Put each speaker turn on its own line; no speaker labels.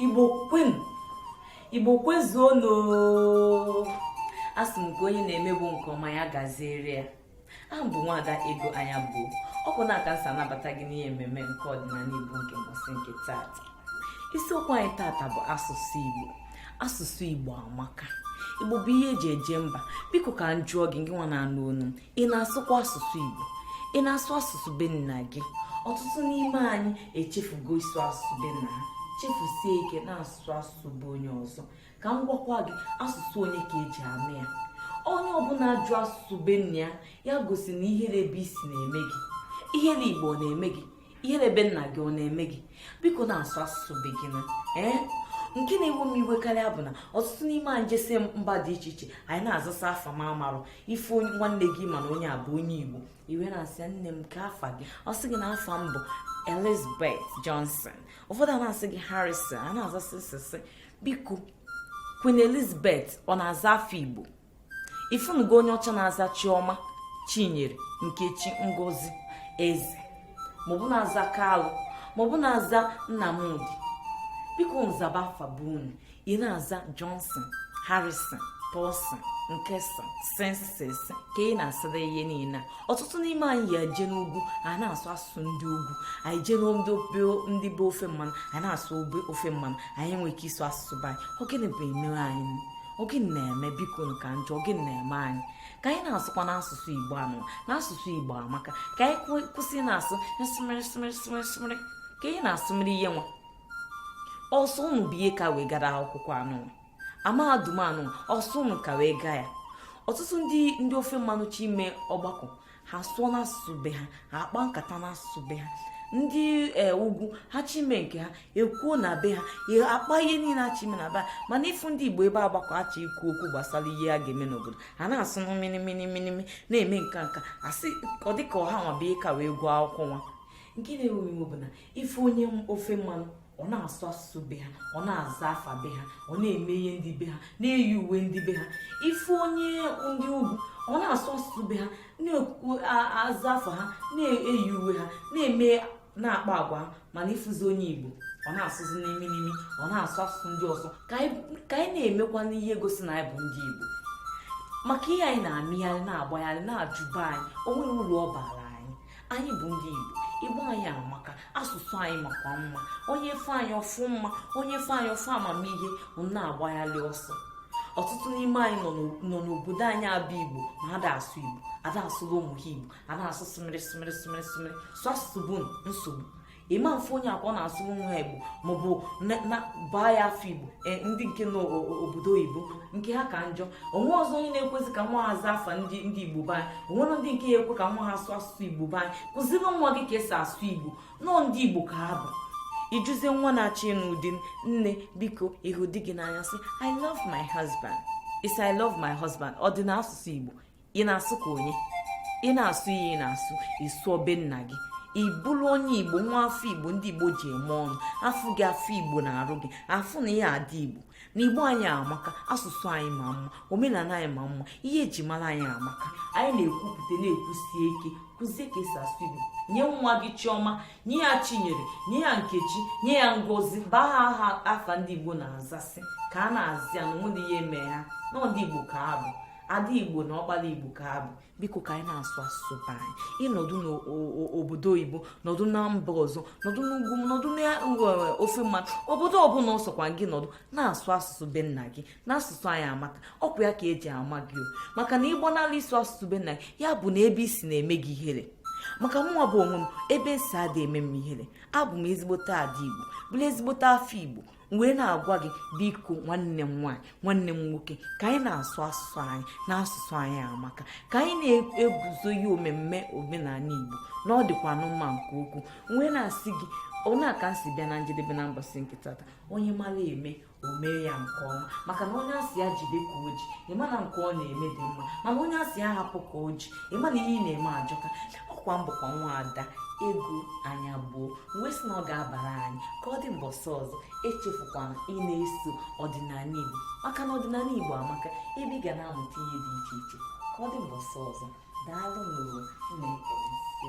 igbo kwenu igbo kwezuonu asị m ka onye na-emebu nke ọma ya gaziere ya aha m bụ nwaada ego anyaegbu ọ bụ na-aka nsa anabata gị n'ihe mmemme nke ọdịnala igbo nke mbọsị nke taa isiokwu anyị tata bụ asụsụ Igbo asụsụ Igbo amaka Igbo bụ ihe eji eje mba biko ka m jụọ gị gị nwa na-anụ onu ị na-asụkwa asụsụ Igbo ị na-asụ asụsụ be nna gị ọtụtụ n'ime anyị echefugo ịsụ asụsụ be nna ha chefusie ike na-asụ asụsụ be onye ọzọ ka m gwakwa gị asụsụ onye ka eji ama ya onye ọbụla ajụ asụsụ be nna ya ya gosi na ihere ebe i si na-eme gị ihere igbo na-eme gị ihere be nna gị ọ na-eme gị biko na-asụ asụsụ be gị na ee nke na-ewe m iwe karịa bụ na ọtụtụ n'ime anyị jesi mba dị iche iche anyị na-azasa afa m amarọ ịfụ nwanne gị ma na onye a bụ onye igbo i wee na-asị nne m kee afa gị ọ sị gị na afa m bụ elizabeth johnson ụfọdụ a na-asị gị harrison a na-azasị sịsị biko queen elizabeth ọ na-aza afa igbo ị fụnugo onye ọcha na-aza chioma chinyere nkechi ngozi eze maọbụ na-aza kalụ maọbụ na-aza nnamdi bikonu zaba afa be unu ị na-aza johnson harrison Paulson nkesa senses ka ị na-asịda ihe niile a ọtụtụ n'ime anyị ya eje n'ugwu a na-asụ asụsụ ndị ugwu anyị jee ndị be ofe mmanụ a na-asụ ofe mmanụ anyị enweghị ike ịsụ asụsụ be anyị ọ gịnị bụ eme anyị ọ gịnị na-eme biko ka m jụọ ọ gịnị na-eme anyị ka anyị na-asụkwanụ asụsụ igbo nụ na asụsụ igbo amaka ka anyị kwụsị na-asụ sịmịrị sịmịrị sịmịrị sịmịrị ka anyị na-asụmịrị ihe nwa ọ sọ ụnụ bụ ihe ka wee gara akwụkwọ anụwa mahadum anụ ọ sọ ụnụ ka wee gaa ya ọtụtụ ndị ofe mmanụ chọ ime ọgbakọ ha asụọ n'asụsụ be ha ha akpa nkata n'asụsụ be ha ndị e, ugwu ha chọ ime nke ha ekwuo na be ha akpa ihe niile ha chọ ime na be ha mana ịfụ ndị igbo ebe a gbakọ a chọ ikwu okwu gbasara ihe a ga-eme n'obodo ha na-asụ n'imi n'imi n'imi na-eme nka nka asị ọ dịka ọ ha nwa bụ ihe ka wee gụọ akwụkwọ nwa nke na-ewe iwe bụ na ịfụ onye ofe mmanụ ọ na-asụ asụsụ be ha ọ na-aza afa be ha ọ na-eme ihe ndị be ha na-eyi uwe ndị be ha ịfụ onye ndị ugwu ọ na-asụ asụsụ be ha na-aza afa ha na-eyi uwe ha na-eme na-akpa agwa ha mana ịfụzi onye igbo ọ na-asụzi n'imi n'imi ọ na-asụ asụsụ ndị ọzọ ka anyị na-emekwanụ ihe gosi na anyị bụ ndị igbo maka ihe anyị na-emegharị na-agbagharị na-ajụ be anyị o nweghị uru ọ bara anyị bụ ndị igbo igbo anyị amaka asụsụ anyị makwa mma onye fụ anyị ọ fụ mma onye fụ anyị ọ fụ amamihe na-agbagharị ọsọ ọtụtụ n'ime anyị nọ n'obodo anyị abụ igbo ma ada asụ igbo ada asụlụ ụmụ ha igbo ada asụ sụmịrị sụmịrị sụmịrị sụmịrị sụ asụsụ bụ nsogbu ị ma afụ onye ka na-asụrụ nwa igbo maọbụ baa ya afa igbo e, ndị nke n'obodo oyibo nke ha ka njọ onwerọzi onye na-ekwezi ka nwa ha zaa afa ndị igbo be anyị onwere ndị nke na-ekwe ka nwa ha sụọ asụsụ igbo be anyị kuziere nwa gị ka esi asụ igbo na ọ ndị igbo ka ha bụ ị jụzie nwa na-achọ ịnụ di nne biko ị hụ di gị n'anya sị i love my husband ị sị i love my husband ọ dị n'asụsụ igbo ị na-asụ ka onye ị na-asụ ihe ị na-asụ ị sụọ be nna gị ị bụrụ onye igbo nwa afọ igbo ndị igbo ji eme ọnụ a fụ gị a fụ igbo n'arụ gị a fụ na i yi ada igbo na igbo anyị amaka asụsụ anyị ma mma omenala anyị ma mma ihe eji mara anyị amaka anyị na-ekwupụta na-ekwusi ike kụzie ka esi asụ igbo nye nwa gị chiọma nye ya chinyere nye ya nkechi nye ya ngozi baa ha afa ndị igbo na-aza sị ka a na-aza ya na onwe ihe eme ha na ndị igbo ka a bụ ada igbo na ọkpala igbo ka a bụ biko ka anyị na-asụ asụsụ be anyị ị nọdụ n'obodo oyibo nọdụ na mba ọzọ nọdụ n'ugwu nọdụ n'ofe mba obodo ọbụla ọ sọkwa gị nọdụ na-asụ asụsụ be nna gị na asụsụ anyị amaka ọkwa ya ka eji ama gị o maka na ịgbanala ịsụ asụsụ be nna gị ya bụ na ebe i si na-eme gị ihere maka mụnwa bụ onwe m ebe m si ada eme m ihere abụ m ezigbote ada igbo bụrụ ezigbote afọ igbo wee na-agwa gị biko nwanne m nwaanyị nwanne m nwoke ka anyị na-asụ asụsụ anyị na asụsụ anyị amaka ka anyị na-eguzobe omemme omenala igbo na ọ dịkwanụ mma nke ukwu wee na-asị gị ọ n'ebe a ka m si bịa na njedebe na mbọsị nke tata onye mara eme o mee ya nke ọma maka na onye a sị ya jide ka o ji ị ma na nke ọ na-eme dị mma mana onye a sị ya hapụ ka o ji ị ma na ihe ị na-eme ajọka ọkwa m bụkwa nwaada ego anyagbuo wee sị na ọ ga-abara anyị ka ọ dị mbọsị ọzọ echefukwana ị na-eso ọdịnala igbo maka na ọdịnala igbo amaka ebe ị ga na-amụta ihe dị iche iche ka ọ dị mbọsị ọzọ daalụ n'ụwa na-ekeresi